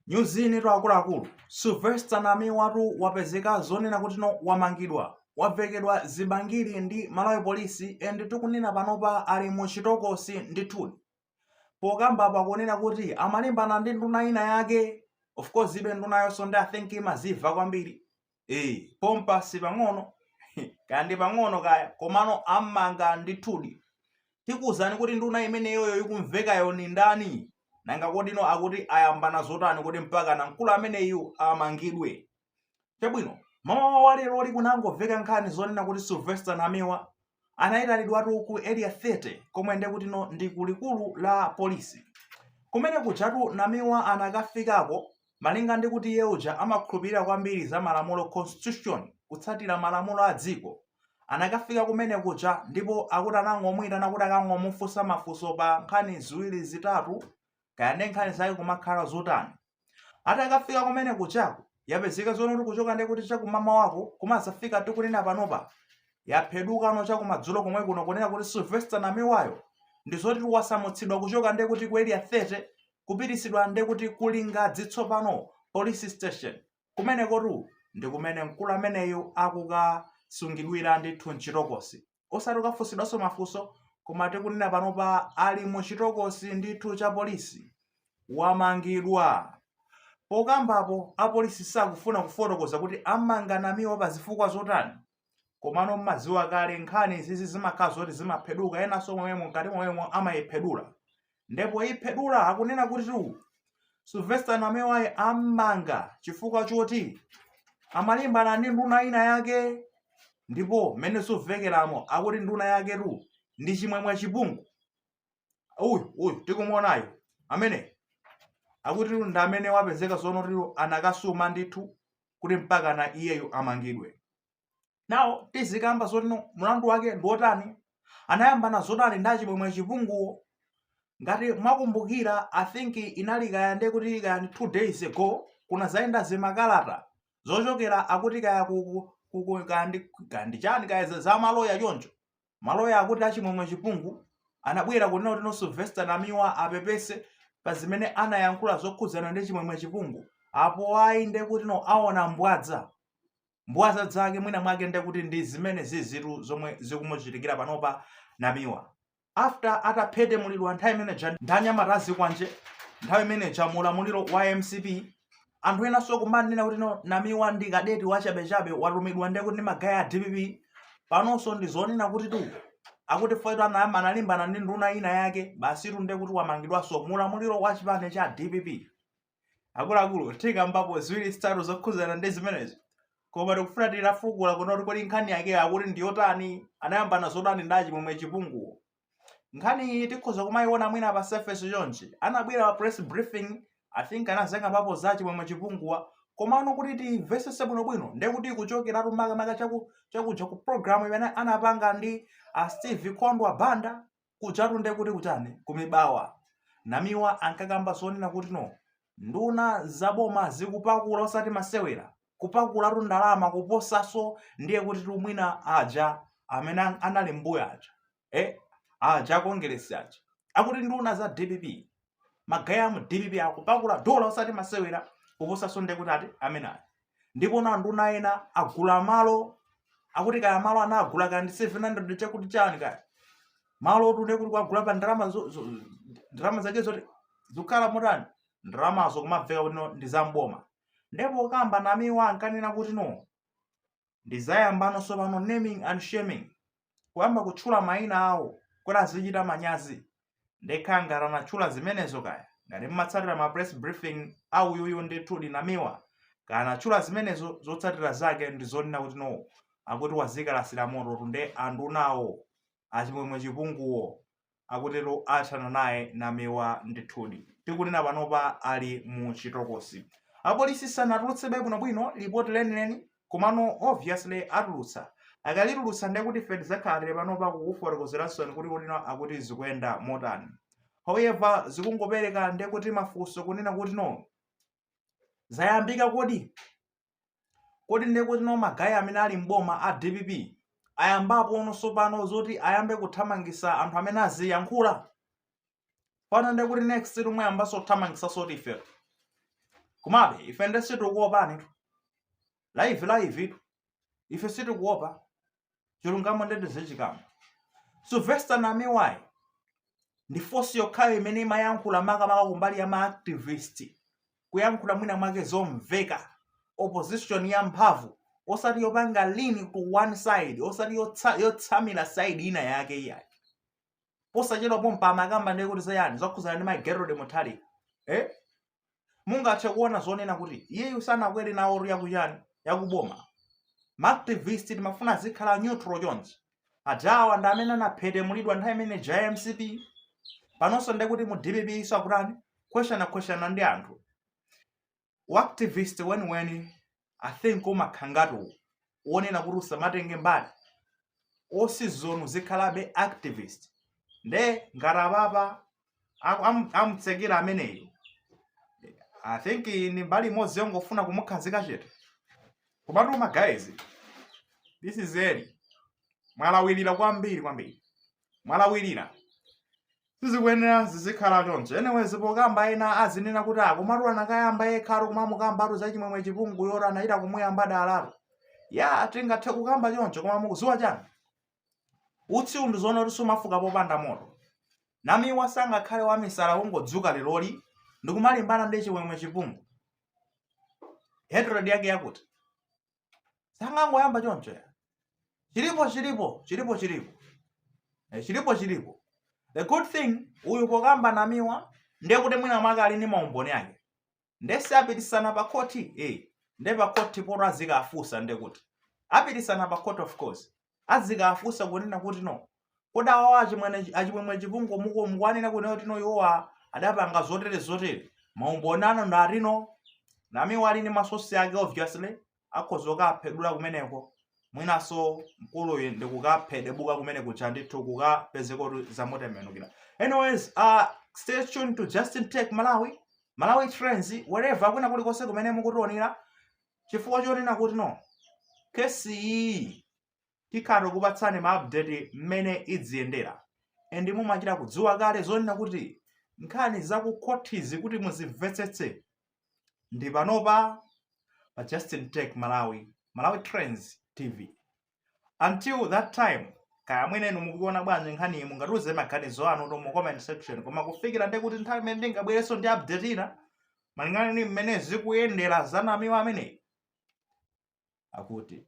nyuzinetu akuluakulu sylvester namiwatu wapezeka zonena kuti no wamangidwa wavekedwa zibangiri ndi malawi polisi and tikunena panopa ali mu chitokosi ndithudi pokamba pakunena kuti amalimbana ndi nduna ina yake of course ibe ndunayonso ndi i think imazimva kwambiri eyi pompa si pang'ono kaya ndi pang'ono kaya komano ammanga ndithudi tikuwuzani kuti nduna imeneyoyo ikumvekayo ni ndani nanga kodi no akuti ayambana zotani kuti mpaka na mkulu ameneyu amangidwe chabwino mamawa wa leroli kunangomveka nkhani zonena kuti sylvester namiwa anayitanidwatu ku area 30 komwe ndiye kuti no ndi ku likulu la polisi kumene kujatu namiwa anakafikako malinga ndi kuti iye uja amakhulupirira kwambiri za malamulo constitution kutsatira malamulo a dziko anakafika kumene kuja ndipo akuti anangomuyitana kuti akangomufunsa mafunso pa nkhani ziwiri zitatu kaya ndi nkhani zake kumakhala zotani atakafika kumene kujako yapezeka zonena kuti kuchoka ndi kuti chakumamawako kumazafika tikunena panopa yaphedukano chakumadzulo komwe kuno kunena kuti sylvester namiwayo ndi zoti wasamutsidwa kuchoka nde kuti ku area 30 kupitisidwa nde kuti ku lingadzi tsopano police station kumenekotu ndi kumene mkulu ameneyu akukasungidwira ndithu mchitokosi osati kukafunsidwanso mafunso koma tikunena panopa ali mu chitokosi ndithu cha polisi wamangidwa pokambapo apolisi sakufuna kufotokoza kuti amanga namiwa pa zifukwa zotani komano mmaziwa kale nkhani izizi zimakhala zoti zimapheduka enanso momwemo mkati momwemo amayiphedula nde poiphedula akunena kutitu sylvester namiwayo ammanga chifukwa choti amalimbana ndi nduna ina yake ndipo mmene zikumvekeramo akuti nduna yaketu ndi chimwemwe chipungu uyu uyu tikumuonayo amene akutitu ndi amene wapezeka zonena kuti anakasuma ndithu kuti mpaka na iyeyo amangidwe now tizikamba zoti no mlandu wake ndi wotani anayambana zotani ndi achimwemwe achipunguwo ngati mwakumbukira i think inali kaya nde kuti kaya ndi two days ago kunazayenda zimakalata zochokera akuti kaya ku- ku- ku- ku- kaya ndi- kaya ndi chani kaya za- za maloya choncho maloya akuti achimwemwe chipungu anabwera kunena kuti no sylvester namiwa apepese pa zimene anayankhula zokhudzana ndi chimwemwe chipungu apo ayi nde kuti no aona mbwadza mbwadza zake mwina mwake ndekuti ndi zimene zizitu zomwe zikumuchitikira panopa namiwa after ataphetemulidwa nthawi imeneja ndi anyamata azikwanje nthawi imeneja mu ulamuliro wa mcp anthu enanso kumanena kuti no namiwa ndi kadeti wachabechabe watumidwa ndekuti ndi magaye a dpp panonso ndi zonena kutitu akuti foyito anayamba analimbana ndi nduna ina yake basitu ndekuti wamangidwanso mu ulamuliro wa chipani cha dpp akuluakulu tikambapo ziwiri zitatu zokhudzana ndi zimenezi koma tikufuna titafukula kunena kuti kodi nkhani yakeyo akuti ndi yotani anayambana zotani ndi achimwemwe chipunguwo nkhani iyi tikhoza kumayiona mwina pa surface chonchi anabwera pa press briefing i think anadzangokambapo za chimwemwe chipunguwo komano kuti timvesese bwinobwino nde kuti kuchokeratu makamaka chaku- chakuja ku programu imene anapanga ndi a steve kondwa banda kujatu nde kuti kuchani kumibawa namiwa ankakamba zonena kuti no nduna za boma zikupakula osati masewera kupakulatu kwa ndalama kuposaso ndiye kutitu mwina aja amene an- anali mmbuyo aja eh, aja akongeresi aja akuti nduna za dpp magaye amu dpp akupakula dola osati masewera kuposanso ndekuti ati amene ayi ndipo na nduna ina agula malo akuti kaya malo ana agula kaya ndi 700 chakuti chani kaya malowotu nde kuti kuwagula pa ndalama zo- zo- ndalama zake zoti zikukhala motani ndalamazo kumamveka kuti no ndi zamboma nde pokamba namiwa ankanena kuti no ndizayamba no tsopano naming and shaming kuyamba kutchula mayina awo kuti azichita manyazi nde kaya ngati anatchula zimenezo kaya ngati mmatsatira ma press briefing a uyuyu ndithudi namiwa kaya anatchula zimenezo zotsatira zake ndi zonena kuti no akuti wazikalasira mototu nde andunawo achimwemwe chipunguwo akutero athana naye Namiwa ndithudi. Tikunena panopa ali mu chitokosi. Apolisi sanatulutsebe bwinobwino lipoti lenileni komano obviously atulutsa. Akalitulutsa ndiye kuti ife tidzakhala tili panopa kukufotokozeransoni kunena kuti no akuti zikuyenda motani. However, zikungopereka ndiye kuti mafunso kunena kuti no zayambika kodi? kodi ndiye kuti no magaye amene ali m'boma a dpp ayambapo no sopano zoti ayambe kuthamangisa anthu amene aziyankhula pano ndiye kuti next tomwe ayambaso kuthamangisa siti ife komabe ife nde sitikuopanitu live livetu ife sitikuopa chilungamo nde ndizichikamba sylvester namiwayu ndi voice yokhayo imene imayankhula makamaka kumbali ya maactivist kuyankhula mwina mwake zomveka opposition ya mphamvu osati yopanga lean to one side osati yotsa- yotsamira side ina yake iyayi posachedwa pompa amakamba ndiye kuti zayani zokhuzana ndi magerode muthalika eh? mungathe kuona zonena kuti iyeyu sanakwere nawotu ya kuchani yakuboma maactivist timafuna azikhala neutral chonchi ajawa ndi amene anaphetemulidwa nthawi imene ja mcp panonso nde kuti mu dpp iso akutani questionana questionana ndi anthu uactivist weniweni i think umakhala ngati u- uonena kuti usamatenge mbali osizonse uzikhalabe activist nde ngati apapa aku- amu- amutsekera ameneyo i think ni mbali imodzi yongofuna kumukhazika chete komatu ma guys this is early mwalawirira kwambiri kwambiri mwalawirira sizikuyenera zizikhala choncho anyways pokamba ena azinena kuti akomatu anakayamba yekhayo kumamukambatu za chimwemwe chipungu yoti anachita kumuyamba dalalo ya tingathe kukamba choncho koma mukuziwa chani utsi undi zoona kuti sumafuka popanda moto namiwa sangakhale wamisala kungodzuka leroli ndikumalimbana ndi chimwemwe chipungu hatred yake yakuti sangangoyamba choncho ya chilipo chilipo chilipo chilipo eh, chilipo chilipo the good thing uyu pokamba namiwa ndiye kuti mwina mwake ali ndi maumboni ake nde si apitisana pa khoti eh, nde pa khoti poto azikafunsa nde kuti apitisana pa court of course azikafunsa kunena kuti no kodi awawa achimwene achimwemwe chipungu muko mukuwanena kunena kuti no iwowa adapanga zotere zotere maumboni anu ndi ati no namiwa ali ndi masosi ake obviously akhoza kukaphedula kumeneko mwinaso mkuluyu ndi kukaphedebuka kumene kuja ndithu kukapezeka kuti zamutembenukira anyways uh, stay tuned to justin tech malawi malawi trends wherever kwina kulikonse kumene mukutionera chifukwa chonena kuti no kesi iyi tikhala tikukupatsani ma update mmene idziyendera and mumachita kudziwa kale zonena kuti nkhani za ku khothizi kuti muzimvetsetse ndi panopa pa Justin Tech Malawi Malawi Trends TV Until that time, kaya mwina inu mukuiona bwanji nkhaniyi mungatiuze maganizo anu to mu comment section koma kufikira nde kuti nthawi imene ndingabwerenso ndi update ina malingana ndi mmene zikuyendera za namiwa ameneyi akuti